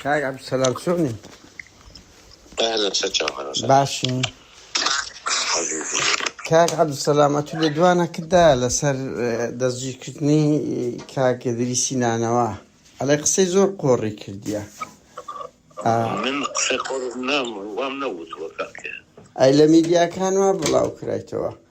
کاک عبدالسلام سونی اهلا وسهلا اهلا وسهلا باشی حبيبي کاک عبدالسلام ئەتو لە دوانەکەتدا لەسەر اه، دەستگیرکردنی کاک دریسی نانەوە ئەڵێ قسەی زۆر قۆڕی کردیە اه، من قسەی قۆر نام وام نەوتووە کاکە ئەی لە میدیاکان وا بڵاو کرایتەوە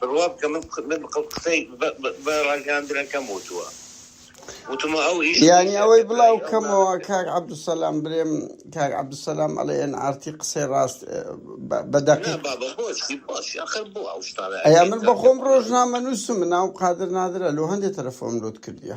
بڕوا بکە من قسەی بە ڕاگەیاندنەکەم وتووە وتمە ئەو ئیش یانی ئەوەی بڵاو کەمەوە کاک عەبدوسەلام برێم کاک عەبدوسەلام ئەڵێ ئەن ئارتی قسەی ڕاست بە دەقیق ئەیا من بەخۆم ڕۆژنامە نووسم ناوم قادر نادرە لۆ هەندێک تەلەفۆم لۆت کردیە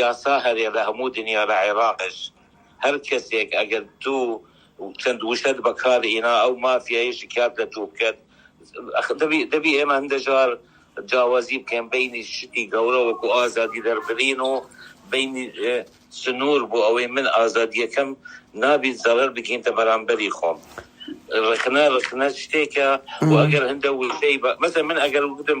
یاسا هەرێ لە هەموو دنیا لە عێراقش هەر کەسێک ئەگەر دوو چەند وشەت بەکار ئینا ئەو مافیایە شکات لە تو بکەت دەبی دەبی ئێمە هەندەجار جاوازی بکەین بینی شتی گەورە وەکو ئازادی دەربرین و بینی سنور بۆ ئەوەی من ئازادیەکەم نابیت زەرەر بگینتە بەرامبەری خۆم رخنە رخنە شتێکە و ئەگەر هەندە وشەی بە مەسە من ئەگەر وگوتم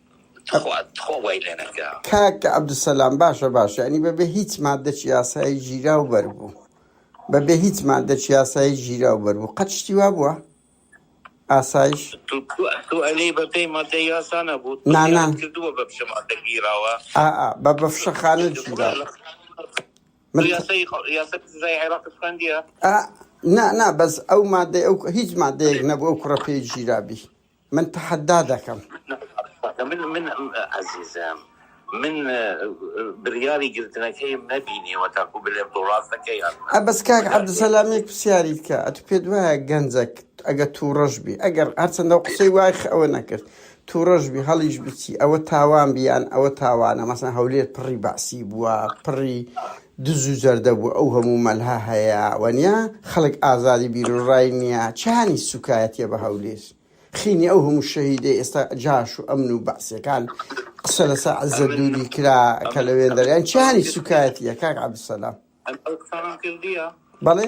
تخوا تخوا وای لێ نەکرا کاک عبدالسلام باشە باش یعنی بە بێ هیچ مادەچ یاسایی گیرا و بەربوو بە بێ هیچ مادەچ یاسایی گیرا و بەربوو قەت شتی وا بووە ئاسایش تو تو تو علی بە پێی مادە یاسا نەبوو نانا پرسیارت کردووە بە پشە مادە گیراوە ئا ئا بە بە فشەخانە تو گیرا بڕۆ لە بوو تو من ت- یاسای یاسا سزای عێراق خوێندیە ئا نا نا بەس ئەو مادەی ئەو هیچ مادەیەک نەبوو ئەو کوڕە پێی گیرابی من تەحەدا دەکەم. من من عەزیزم من بریاری گرتنەکەیم نەبینیوە تاکو بلێم تۆ راست دەکەی یان نا. ئە بەس کاک مەجال نییە عەبدولسەلام یەک پسیاری بکە ئەتو پێت وایە گەنجەک ئەگەر توڕەش بی ئەگەر هەرچەندە و قسەی وای خ ئەوە نەکرد توڕەش بی هەڵیش بچی ئەوە تاوان بی یان ئەوە تاوانە مەسەن هەولێر پڕی بەعسی بووە پڕی دز و جەردە بوو ئەو هەموو مەلها هەیە وەنیا خەڵک ئازادی بیرو ڕای نیە چیانی سوکایەتیە بە هەولیر خینی ئەو هەموو شەهیدەی ئێستا جاش و ئەمن و بەعسیەکان قسە لەسە عزەت دوری کرا کە لە وێندەریان چیانی سوکایەتیە کاک عبدالسلام بەڵێ.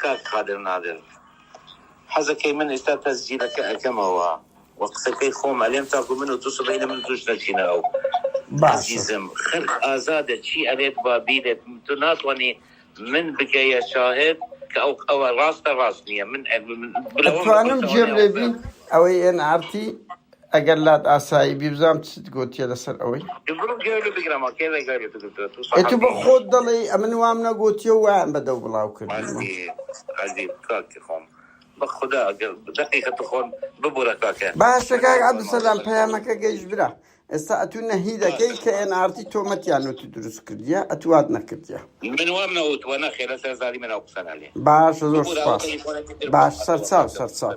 کاک قادر نادر حەزەکەی من ئیستا تەسجیلەکە ئەکەمەوە و قسەکەی خۆم ئەلێم تاکو من و تو سبەینێ من توش نەچینە ئەو باشە. ئەزیزم خەلق ئازادە چی ئەلێت با بیلێت تو ناتوانی من بکەیە شاهد کە ئەو ئەوە راستە راست نیە من ئەتوانم جێم لێ بی ئەوەی ئێن ئارتی. ئەگەر لات ئاسایی بی بزانم چت گۆتیە لەسەر ئەوەی ئەتو بە خۆت دەڵێ ئەمن وام نەگۆتیە وایان بەدەو بڵاو کردم بەخدا دقیقە تخۆن ببورە کاکە باشە کاک عبدسەلام پەیامەکە گەیش برا ئێستا ئەتو نەهی دەکەی کە ئێن ئارتی تۆمەتیان وتی دروست کردیە ئەتوات نەکردیە من وام نەوت وە نەخێ لە سەرزاری منە قسەنالێ باشە زۆر باش سەرچاو سەرچاو